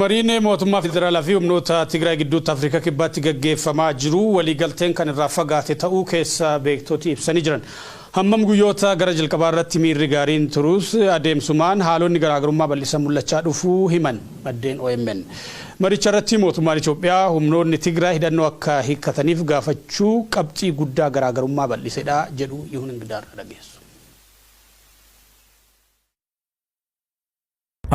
Mariin mootummaa federaalaa fi humnoota Tigraay gidduutti Afrikaa Kibbaatti gaggeeffamaa jiru waliigalteen kan irraa fagaate ta'uu keessa beektoti ibsanii jiran. Hammam guyyoota gara jalqabaa irratti miirri gaariin turus adeemsumaan haalonni garaagarummaa bal'isan mul'achaa dhufuu himan maddeen omn. Maricha irratti mootummaan Itoophiyaa humnoonni Tigraay hidhannoo akka hiikkataniif gaafachuu qabxii guddaa garaagarummaa bal'isedha jedhu Yihun Ingidaarraa dhageessu.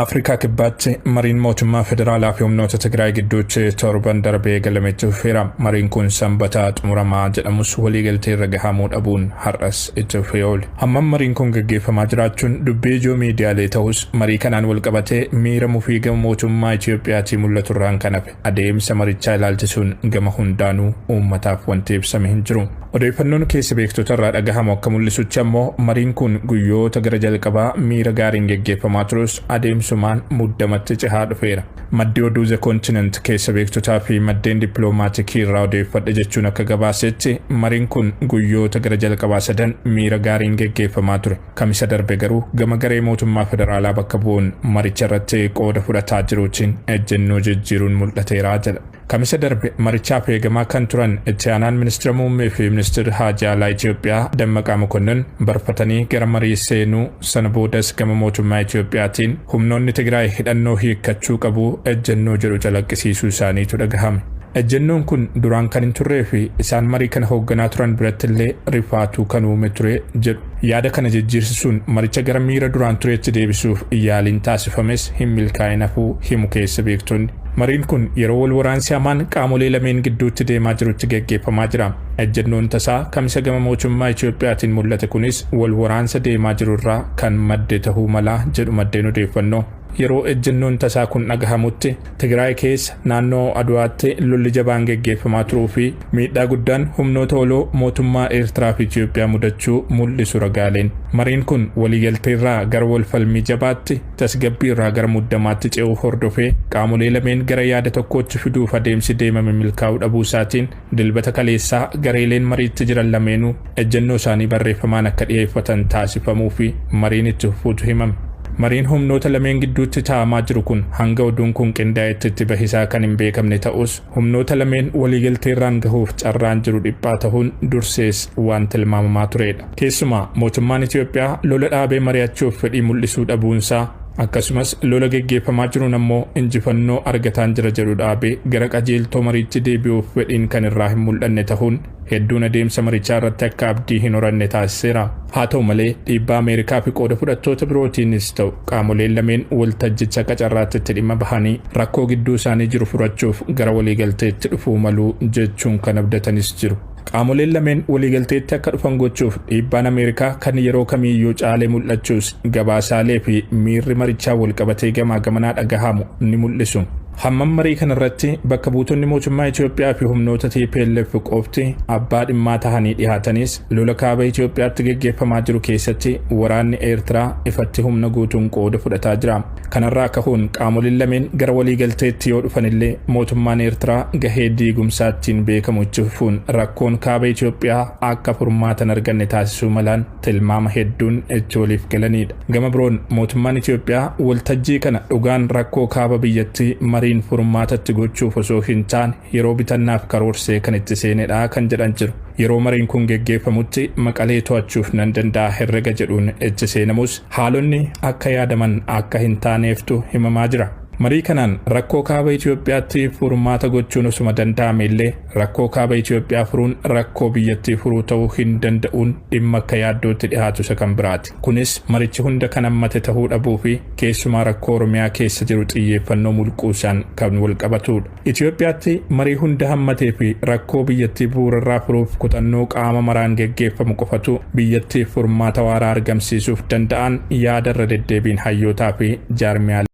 Afrikaa Kibbaatti mariin mootummaa federaalaa fi humnoota Tigraay gidduutti torban darbee eegalame itti fufeera. Mariin kun Sanbata xumuramaa jedhamus waliigaltee irra gahamuu dhabuun har'as itti fufee oole. Hammam mariin kun gaggeeffamaa jiraachuun dubbii ijoo miidiyaalee ta'us marii kanaan walqabatee miira mufii gama mootummaa Itiyoophiyaatii mul'atu irraan kan hafe Adeemsa marichaa ilaalchisuun gama hundaanuu uummataaf wanti ibsame hin jiru. Odeeffannoon keessa beektota irraa dhagahamu akka mul'isutti ammoo mariin kun guyyoota gara jalqabaa miira gaariin geggeeffamaa turus adeemsumaan muddamatti cehaa dhufeera. Maddi oduu The Continent keessa beektotaa fi maddeen dippiloomaatikii irraa odeeffadhe jechuun akka gabaasetti mariin kun guyyoota gara jalqabaa sadan miira gaariin geggeeffamaa ture. Kamisa darbe garuu gama garee mootummaa federaalaa bakka bu'uun maricha irratti qooda fudhataa jiruutiin ejjennoo jijjiiruun mul'ateera jedha. Kamisa darbe marichaaf eegamaa kan turan itti aanaan ministira muummee fi ministirri haajaa alaa Itoophiyaa Dammaqaa Mokonnon barfatanii gara marii seenuu sana boodas gama mootummaa Itoophiyaatiin humnoonni Tigraay hidhannoo hiikkachuu qabu ejjennoo jedhu calaqqisiisuu isaaniitu dhagahame. Ejjennoon kun duraan kan hin turree fi isaan marii kana hoogganaa turan birattillee rifaatuu kan uume ture jedhu. Yaada kana jijjiirsisuun maricha gara miira duraan tureetti deebisuuf yaaliin taasifames hin milkaa'in hafuu himu keessa beektonni. Mariin kun yeroo wal waraansi hamaan qaamolee lameen gidduutti deemaa jirutti gaggeeffamaa jira. Ejjennoon tasaa Kamisa gama mootummaa Itoophiyaatiin mul'ate kunis wal waraansa deemaa jiru irraa kan madde tahuu mala jedhu maddeen odeeffannoo. Yeroo ejjennoon tasaa kun dhagahamutti Tigraay keessa naannoo Adwaatti lolli jabaan geggeeffamaa turuu fi miidhaa guddaan humnoota waloo mootummaa Eertiraa fi Itiyoophiyaa mudachuu mul'isu ragaaleen. Mariin kun waliigaltee irraa gara wal falmii jabaatti, tasgabbii irraa gara muddamaatti ce'uu hordofee qaamolee lameen gara yaada tokkootti fiduuf adeemsi deemame milkaa'uu dhabuu isaatiin Dilbata kaleessaa gareeleen mariitti jiran lameenuu ejjennoo isaanii barreeffamaan akka dhiyeeffatan taasifamuu fi mariin itti fufuutu himame. Mariin humnoota lameen gidduutti taa'amaa jiru kun hanga oduun kun qindaa'etti itti bahi isaa kan hin beekamne ta'us, humnoota lameen waliigalteerraan gahuuf carraan jiru dhiphaa tahuun dursees waan tilmaamamaa tureedha. Keessumaa mootummaan Itoophiyaa lola dhaabee mari'achuuf fedhii mul'isuu dhabuunsaa, Akkasumas lola geggeeffamaa jiruun ammoo injifannoo argataan jira jedhu dhaabee gara qajeeltoo mariitti deebi'uuf fedhiin kan irraa hin mul'anne tahuun hedduun adeemsa marichaa irratti akka abdii hin horanne taasiseera. Haa ta'u malee dhiibbaa Ameerikaa fi qooda fudhattoota birootiinis ta'u qaamoleen lameen waltajjicha akka carraatti itti dhimma bahanii rakkoo gidduu isaanii jiru furachuuf gara waliigalteetti dhufuu malu jechuun kan abdatanis jiru. Qaamoleen lameen waliigalteetti akka dhufan gochuuf dhiibbaan Ameerikaa kan yeroo kamiiyyuu caalee mul'achuus gabaasaalee fi miirri marichaa walqabatee gamaa gamanaa dhagahamu ni mul'isu. Hammam marii kanarratti bakka buutonni mootummaa Itoophiyaa fi humnoota tplf qofti abbaa dhimmaa tahanii dhihaatanis lola kaaba Itoophiyaatti geggeeffamaa jiru keessatti waraanni Eertiraa ifatti humna guutuun qooda fudhataa jira. Kanarraa kahuun qaamoliin lameen gara waliigalteetti yoo dhufanillee mootummaan Eertiraa gahee diigumsaa ittiin beekamu itti fufuun rakkoon Kaaba Itoophiyaa akka furmaata hin arganne taasisuu malaan tilmaama hedduun itti waliif galaniidha. Gama biroon mootummaan Itoophiyaa waltajjii kana dhugaan rakkoo kaaba biyyattii mariin furmaata itti gochuuf osoo hin taane yeroo bitannaaf karoorsee kan itti seenedha kan jedhan jiru. Yeroo mariin kun geggeeffamutti Maqalee to'achuuf nan danda'a herrega jedhuun itti seenamus Haalonni akka yaadaman akka hin taaneeftu himamaa jira. Marii kanaan rakkoo kaaba Itoophiyaatti furmaata gochuun osuma danda'ame illee rakkoo kaaba Itoophiyaa furuun rakkoo biyyattii furuu ta'uu hin danda'uun dhimma akka yaaddootti dhihaatu isa kan biraati. Kunis marichi hunda kan hammate tahuu dhabuufi keessumaa rakkoo Oromiyaa keessa jiru xiyyeeffannoo mulquusaan kan walqabatuudha. Itiyoophiyaatti marii hunda hammatee fi rakkoo biyyattii bu'uurarraa furuuf kutannoo qaama maraan geggeeffamu qofatu biyyattiif furmaata waaraa argamsiisuuf danda'aan yaada irra deddeebiin hayyootaa fi jaarmiyaalee